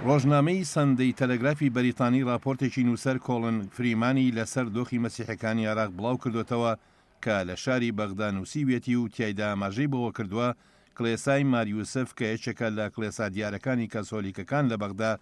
ڕۆژنامەی سەندەی تەلەگرافی بەریتانی ڕاپۆرتێکی نووسەر کۆڵن فریمانی لە سەر دۆخی مەسیحەکانی عێراق بڵاو کردۆتەوە کە لە شاری بەغدا نووسیویەتی و تیایدا ئاماژەی بەوە کردووە کڵێسای مار یوسف کە یەکێکە لە کڵێسا دیارەکانی کەسۆلیکەکان لە بەغدا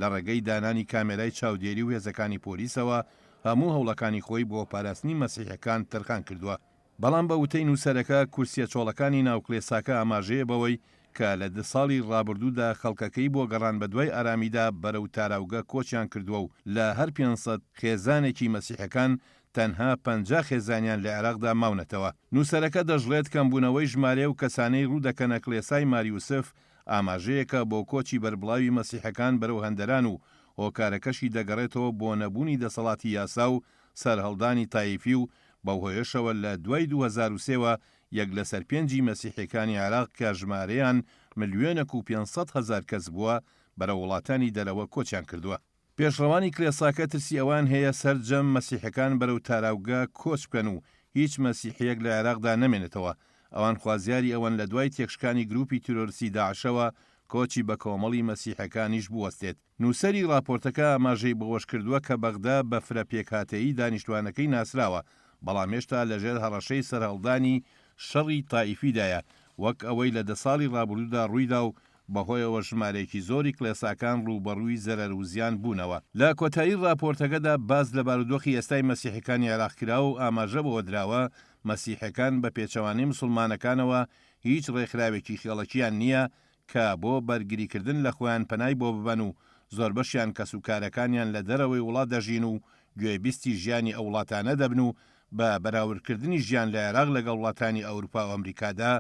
لە ڕێگەی دانانی کامێرای چاودێری و هێزەکانی پۆلیسەوە هەموو هەوڵەکانی خۆی بۆ پاراستنی مەسیحەکان تەرخان کردووە. بەڵام بە وتەی نووسەرەکە، کورسییە چۆڵەکانی ناو کڵێساکە ئاماژەیە بەوەی کە لە دە ساڵی ڕابردوودا خەڵکەکەی بۆ گەڕان بەدوای ئارامیدا بەرەو تاراوگە کۆچیان کردووە و لە هەر پێنج سەد خێزانێکی مەسیحەکان تەنها پەنجا خێزانیان لە عێراقدا ماونەتەوە. نووسەرەکە دەشڵێت، کەمبوونەوەی ژمارەی و کەسانەی ڕوو دەکەنە کڵێسای مار یوسف ئاماژەیەکە بۆ کۆچی بەربڵاوی مەسیحەکان بەرەو هەندەران و هۆکارەکەشی دەگەڕێتەوە بۆ نەبوونی دەسەڵاتی یاسا و سەرهەڵدانی تایفی و بەو هۆیەشەوە لە دوای دوو هەزار و سێ وە یەک لەسەر پێنجی مەسیحیەکانی عێراق کە ژمارەیان ملیۆنەک و پێنج سەد هەزار کەس بووە بەرەو وڵاتانی دەرەوە کۆچیان کردووە. پێشڕەوانی کلێساکە ترسی ئەوەیان هەیە سەرجەم مەسیحەکان بەرەو تاراوگە کۆچ بکەن و هیچ مەسیحیەک لە عێراقدا نەمێنێتەوە، ئەوان خوازیاری ئەوەن لە دوای تێکشکانی گروپی تیرۆرستی داعشەوە کۆچی بەکۆمەڵی مەسیحەکانیش بوەستێت، نووسەری ڕاپۆرتەکە ئاماژەی بەوەشکردووە کە بەغدا بە فرە پێکهاتەیی دانیشتوانەکەی ناسراوە، بەڵام هێشتا لەژێر هەڕەشەی سەرهەڵدانی شەڕی تائیفیدایە، وەک ئەوەی لە دە ساڵی ڕابردوودا ڕوویدا و بەهۆیەوە ژمارەیەکی زۆری کڵێساکان ڕووبەڕووی زەرەر و زیان بوونەوە. لە کۆتایی ڕاپۆرتەکەدا باس لە بارودۆخی ئێستای مەسیحیەکانی عێراق کرا و ئاماژە بەوە دراوە، مەسیحیەکان بە پێچەوانەی موسڵمانەکانەوە هیچ ڕێکخراوێکی خێڵەکییان نییە کە بۆ بەرگریکردن لە خۆیان پەنای بۆ ببەن و زۆربەشیان کەسوکارەکانیان لە دەرەوەی وڵات دەژین و گوێبیستی ژیانی ئەو وڵاتانە دەبن و بە بەراوردکردنی ژیان لە عێراق لەگەڵ وڵاتانی ئەورپا و ئەمریکادا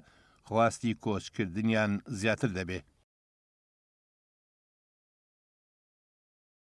خواستی کۆچکردنیان زیاتر دەبێ.